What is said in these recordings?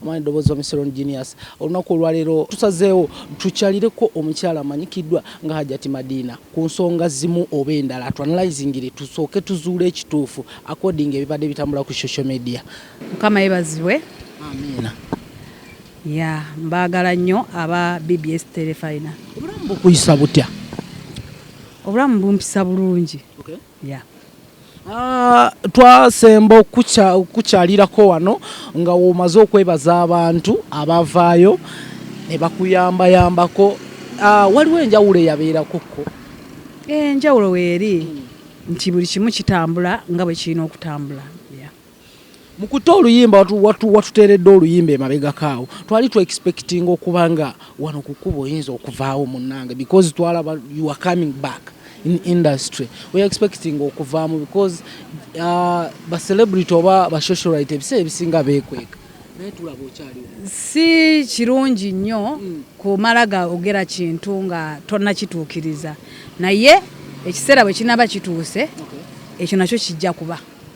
Mwana eddoboozi Wami Seron Genius. Olunaku olwaleero tusazeewo tukyalireko omukyala amanyikiddwa nga Hajjati Madiina ku nsonga zimu oba endala tu analyzingire tusooke tuzuule ekituufu according ebibadde bitambula ku social media. Mukama yebazibwe. Amiina. Yeah, mbaagala nnyo aba BBS Telefayina. Obulamu bukuyisa butya? Obulamu bumpisa bulungi. Okay. yeah. Ah, twasemba okukukyalirako wano nga womaze okwebaza abantu abavaayo ne bakuyambayambako ah, waliwo enjawulo eyabeerakokko enjawulo weeri nti buli kimu kitambula nga bwe kirina okutambula mu kutte oluyimba watuteeredde oluyimba emabegako awo twali tu expectinga okuba nga wano ku kkuba oyinza okuvaawo munnange because twalaba you are coming back in industry we expectinga okuvaamu because uh, ba celebrity oba ba socialite ebiseera ebisinga beekweka si kirungi nnyo hmm. kumala gaogera kintu nga tonnakituukiriza naye ekiseera bwe kinaaba kituuse ekyo nakyo kijja kuba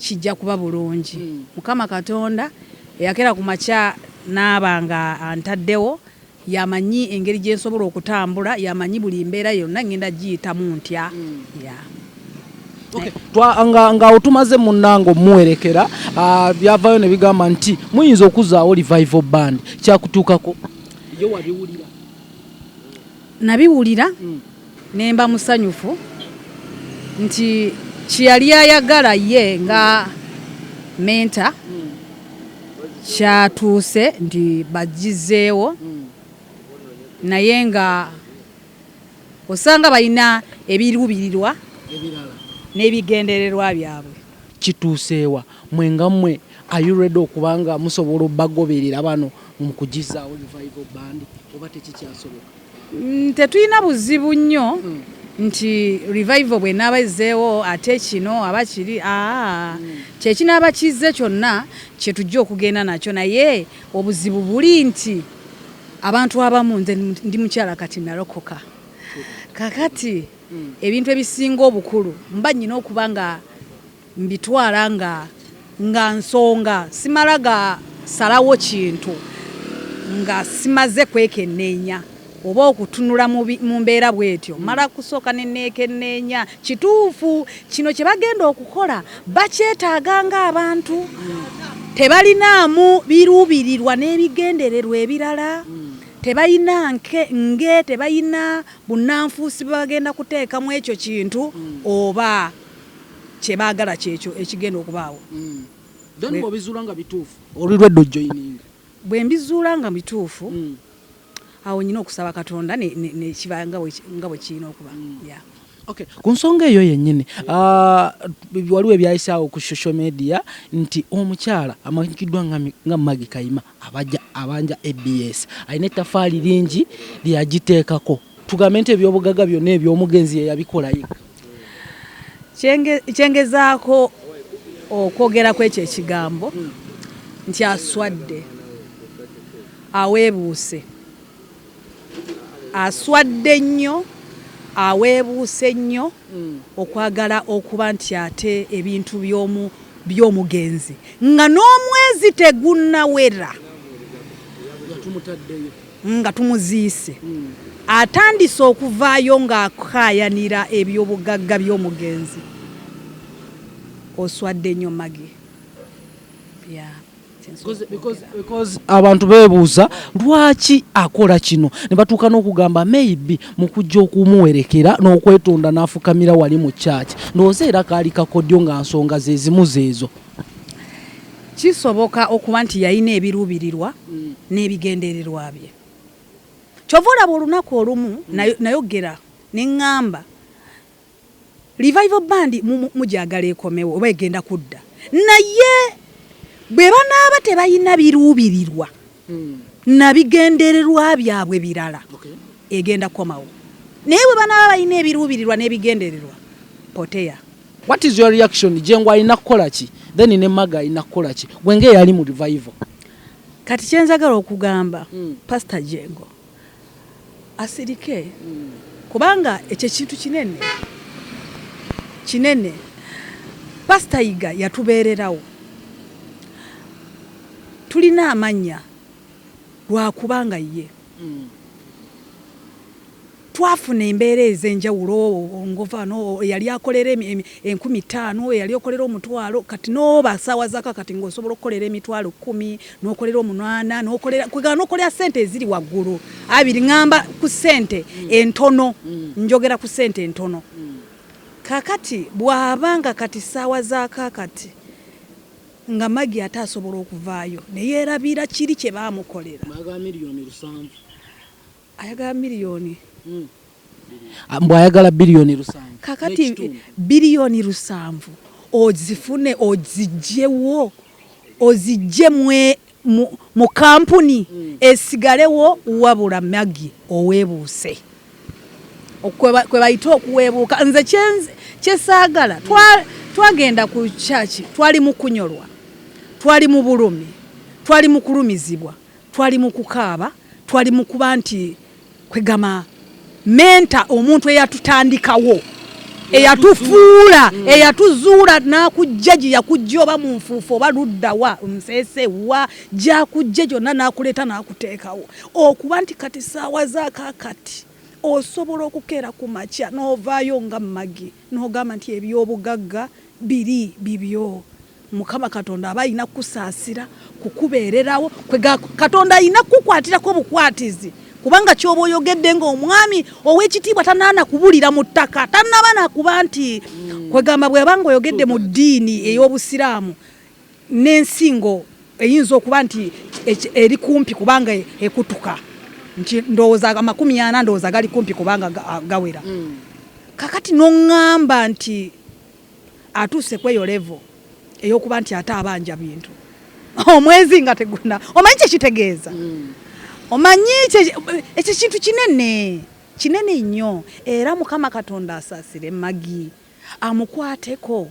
Kijja kuba bulungi. Mukama Katonda eyakera ku makya n'aba nga antaddewo, y'amanyi engeri gye nsobola okutambula, y'amanyi buli mbeera yonna ngenda giyitamu ntya. Yeah. Okay. Twa, nga, nga otumaze munange omuwerekera uh, byavayo ne bigamba nti muyinza okuzaawo revival band kyakutuukako yo wabiwulira nabiwulira mm. Ne mba musanyufu nti kye yali ayagala ye nga menta kyatuuse nti bagizeewo naye nga osanga balina ebiruubirirwa n'ebigendererwa byabwe. Kituuseewa mwe nga mwe are you ready okuba nga musobola obagoberera bano mu kugizaawo revival band oba tekikyasoboka? Mm, tetulina buzibu nnyo mm. nti revival bwenaaba ezzeewo ate kino aba kiri aa mm. kyekinaaba kizze kyonna kyetujja okugenda nakyo naye obuzibu buli nti abantu abamu nze ndi mukyala kati nalokoka kakati ebintu ebisinga obukulu mba nyina okuba nga Mbitwala nga nga nsonga simala ga salawo kintu nga simaze kwekenneenya oba okutunula mu mbeera bwetyo. Mmala kusooka ne neekenneenya kituufu kino kye bagenda okukola bakyetaaga ng'abantu, tebalinaamu biruubirirwa n'ebigendererwa ebirala, tebalina nge tebalina bunnanfuusi bwe bagenda kuteeka mu ekyo kintu oba. kyebagala kyekyo ekigenda okubaawo. Then bwobizuula nga bituufu oli lwedda ojoininga? Bwembizuula nga bituufu awo nyina okusaba katonda nekiba nga bwekirina okuba yeah. Okay, ku nsonga eyo yennyini ah, waliwo ebyayisaawo ku social media nti omukyala amanyikiddwa nga Maggie Kayima abajja abanja abs alina ettafaali lingi lyeyagiteekako tugambe nti ebyobugaga byonna ebyomugenzi yeyabikola yekka kyengezaako okwogeraku ekyo ekigambo nti aswadde aweebuuse Aswadde nnyo, aweebuuse nnyo okwagala okuba nti ate ebintu by'omugenzi nga n'omwezi tegunnawera nga tumuziise atandise okuvaayo ng'akaayanira ebyobugagga by'omugenzi. Oswadde nnyo Maggie. abantu bebuuza lwaki akola kino ne batuuka n'okugamba maybe mu kujja okumuwerekera n'okwetonda n'afukamira wali mu kyaki ndowooza era kaali kakodyo nga nsonga ze zimu zeezo kisoboka okuba nti yalina ebiruubirirwa mm. n'ebigendererwa bye kyova olaba olunaku olumu mm. nayogera ne ŋŋamba Revival band mugyagala ekomewo oba egenda kudda naye bwe banaaba tebalina biruubirirwa hmm. na bigendererwa byabwe birala egenda kukomawo naye bwe banaaba balina ebiruubirirwa n'ebigendererwa poteya what is your reaction jengo alina kukola ki then ne maga alina kukola ki gwe ng'eyali mu revival kati kyenzagala okugamba hmm. pastor jengo Asirike kubanga ekyo ekintu kinene kinene. Pasita Yiga yatubeererawo, tulina amannya lwakubanga ye twafuna embeera ez'enjawulo ngova no eyali akolera enkumi ttaano eyali okolera omutwalo kati n'oba saawa zaka kati ng'osobola okukolera emitwalo kkumi nokolera omunwana nokolera kwegala nokolera sente eziri waggulu abiri ngamba ku sente mm. entono mm. njogera ku sente entono mm. kakati bwabanga kati saawa zakakati nga magi ate asobola okuvaayo neyerabira kiri kyebamukolera Ayagala million. Mbu ayagala billion lusanvu. Kakati billion lusanvu ozifune ozijjewo ozijje mwe mu mu kampuni esigalewo wabula Maggie owebuuse Okwe kwebayita okuwebuuka nze kye kyesaagala twa twagenda ku church twali mukunyolwa twali mubulumi twali mukulumizibwa. Twali mu kukaaba, twali mu kuba nti kwegamba menta omuntu eyatutandikawo eyatufuula mm. eyatuzuula n'akujja gye yakujja oba mu nfuufu oba ludda wa nsese wa gyakujja gyonna n'akuleeta n'akuteekawo okuba nti kati saawa zakakati osobola okukeera ku makya n'ovaayo nga magi n'ogamba nti ebyobugagga biri bibyo. Mukama Katonda aba alina kukusaasira kukubeererawo kwe Katonda alina kukukwatirako obukwatizi kubanga kyoba oyogedde ng'omwami ow'ekitiibwa tanaana kubulira mu ttaka tanaba nakuba nti mm. kwegamba bweba nga oyogedde mu ddiini mm. ey'obusiraamu n'ensingo eyinza okuba nti eri kumpi kubanga e, ekutuka nti ndowooza amakumi ana ndowooza gali kumpi kubanga gawera mm. kakati noŋŋamba nti atuuse kweyo level eyokuba nti ate abanja bintu omwezi nga teguna omanyi kyekitegeeza mm. omanyi ekyo kintu kinene kinene nnyo era mukama katonda asasire magi amukwateko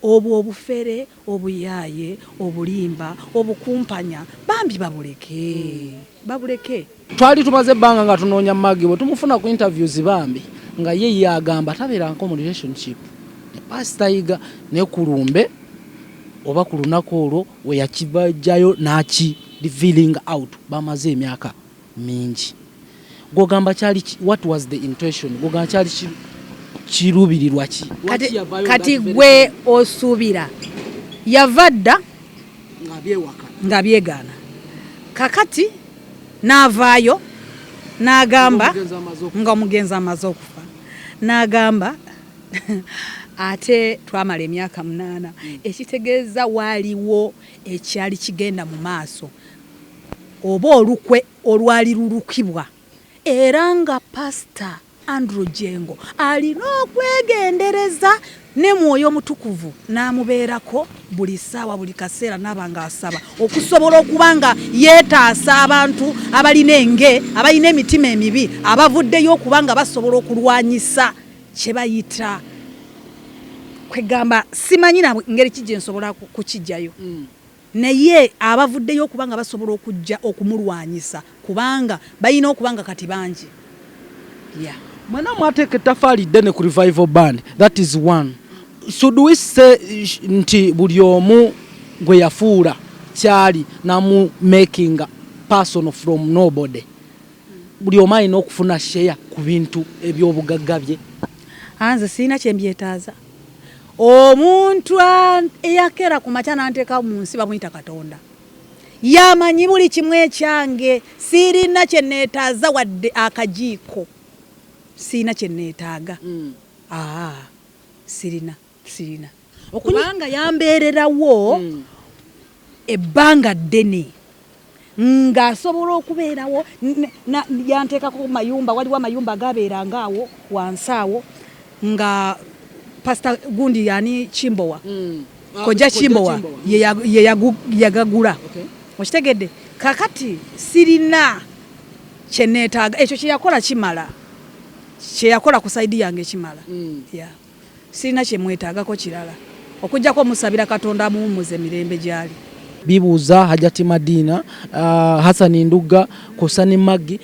Obwo obufere, obuyaaye, obulimba, obukumpanya bambi babuleke. Babuleke. Twali tumaze ebbanga nga tunoonya Maggie bwetumufuna ku interviews bambi nga ye ye agamba tabeeranko mu relationship ne Pastor Yiga naye ku lumbe oba ku lunaku olwo weyakibajjayo naki revealing out bamaze emyaka mingi gwogamba kyali what was the intention gwogamba kyali kiruubirirwa ki kati gwe osuubira yava dda nga byegaana kakati n'avaayo n'agamba nga omugenzi amaze okufa n'agamba ate twamala emyaka munaana hmm. ekitegeeza waaliwo ekyali kigenda mu maaso oba olukwe olwali lulukibwa era nga Pasita Andrew Jengo alina okwegendereza ne Mwoyo Mutukuvu n'amubeerako buli ssaawa buli kaseera n'aba ng'asaba okusobola okuba nga yeetaasa abantu abalina enge abalina emitima emibi abavuddeyo okuba nga basobola okulwanyisa kye bayita kwegamba simanyi na ngeri ki gye nsobola kukijjayo. Mm. Naye abavuddeyo okuba nga basobola okujja okumulwanyisa kubanga balina okuba nga kati bangi. Yeah. Mwena mwateeka ettafaali ddene ku revival band that is one should we say nti buli omu gwe yafuula kyali namu making person from nobody buli omu alina okufuna share ku bintu ebyobugagga bye anze sirina kyembyetaaza Omuntu eyakeera ku makya n'anteeka mu nsi bamuyita Katonda. Yamanyi buli kimu ekyange, sirina kye neetaaza wadde akajiiko, sirina kye neetaaga. Mm. Aa, sirina sirina okubanga yambeererawo mm. ebbanga ddene. ng'asobola okubeerawo yanteekako ku mayumba waliwo amayumba agaabeeranga awo wansi awo nga pasita gundi yani kimbowa mm. ah, kojja kimbowa yeyagagula okitegedde kakati sirina kyeneetaaga ekyo kyeyakola kimala kyeyakola ku saidi yange kimala mm. Sirina kye mwetaagako kirala okuggyako omusabira Katonda amuwummuze mirembe gy'ali. Bibuuza, Hajati Madiina, Hassan Ndugga kw'ossa ne Maggie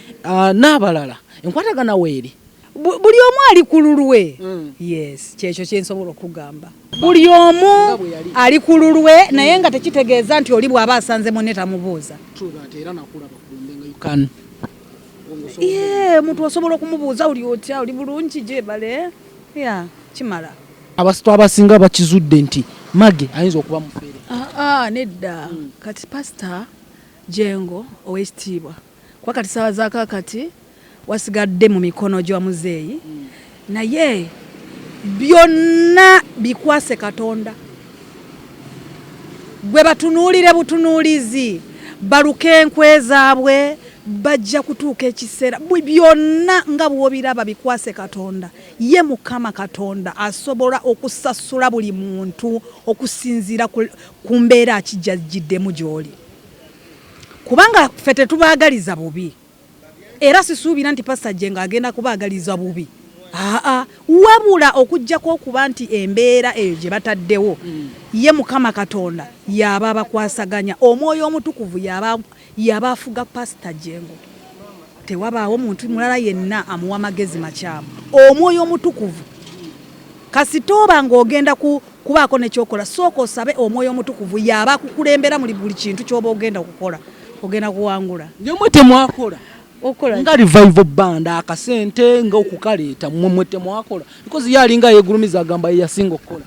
n'abalala enkwatagana weeri? Buli omu ali ku lulwe. Yes, ky'ekyo kye nsobola okukugamba. Buli omu ali ku lulwe naye nga tekitegeeza nti oli bw'aba asanze munne tamubuuza. Yee, omuntu osobola okumubuuza oli otya, oli bulungi, gyebale? Yeah, kimala. Abasitwa abasinga bakizudde nti Mage ayinza okuba mufere. Ah, ah, nedda. Mm. Kati pastor Jengo owekitiibwa. Kwa kati sawa za kakati wasigadde mu mikono gyo muzeeyi. Mm. Naye byonna bikwase Katonda. Gwe batunuulire butunuulizi, baluke enkwe zaabwe, bajja kutuuka ekiseera, byonna nga bw'obiraba bikwase Katonda, ye Mukama Katonda asobola okusasula buli muntu okusinziira ku mbeera ki gy'ajjiddemu gy'oli kubanga ffe tetubaagaliza bubi Era sisuubira nti Pasita Jjengo agenda kubaagaliza bubi aa wabula okuggyako okuba nti embeera eyo gye bataddewo mm. ye Mukama Katonda y'aba abakwasaganya, omwoyo omutukuvu y'aba afuga Pasita Jjengo. Tewabaawo muntu mulala yenna amuwa magezi makyamu. Omwoyo omutukuvu kasita oba ng'ogenda Kubaako ne ky'okola, sooka osabe Omwoyo Omutukuvu. Y'aba akukulembera mu buli kintu ky'oba ogenda okukola. Ogenda kuwangula. Naye mwe temwakola? Okukola ki? Nga Revival Band, akasente nga okukaleeta, mmwe mwe temwakola? Because ye alinga yeegulumiza agamba ye yasinga okukola.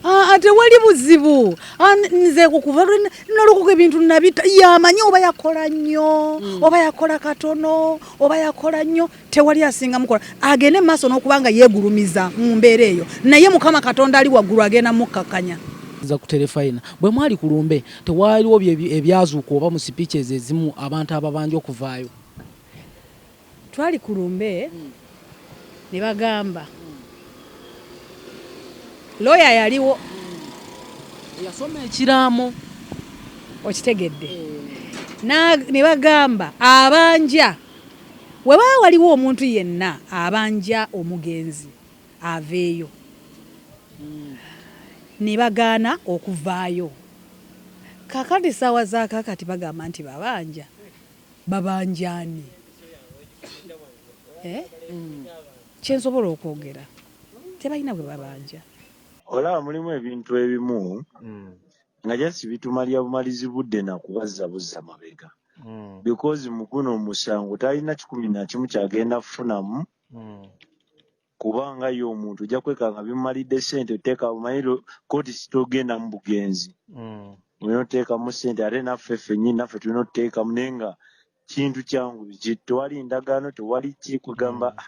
Aa, tewali buzibu. Aa, nze okuva lwe nnalokoka ebintu nnabita. Y'amanyi oba yakola nnyo, oba yakola katono, oba yakola nnyo. tewali asinga mukola agende mu maaso n'okuba nga yeegulumiza mu mbeera eyo naye mukama katonda ali waggulu agenda mukkakkanya za kuterefayina bwe mwali ku lumbe tewaaliwo ebyazuuka oba mu sipiiki ezo ezimu abantu ababanja okuvaayo twali ku lumbe ne bagamba looya yaliwo yasoma ekiraamo okitegedde eh. ne bagamba abanja Bwe waba waliwo omuntu yenna abanja omugenzi aveeyo ne bagaana okuvaayo. Kaakati ssaawa za kaakati bagamba nti babanja. Babanja ani? Eh? Kye nsobola okwogera tebalina gwe babanja. Olaba mulimu ebintu ebimu nga just bitumalya bumalizi budde nakubazza buzza mabega hmm. because muguno omusango talina kikumi nakimu kyagenda kufunamu hmm. kubanga ye omuntu ojja kwekanga bimumalidde sente oteeka omanyi kooti sitogenda mu bugenzi hmm. olina oteekamu sente ate naffe fenyini naffe tulina otuteekamu naye nga kintu kyangu biki tewali ndagaano tewali ki kugamba mm.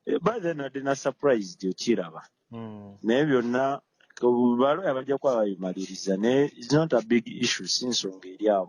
eh, by then adde na surprise okiraba hmm. naye byonna balooya bajja kuba babimaliriza naye is not a big issue si nsonga eri awo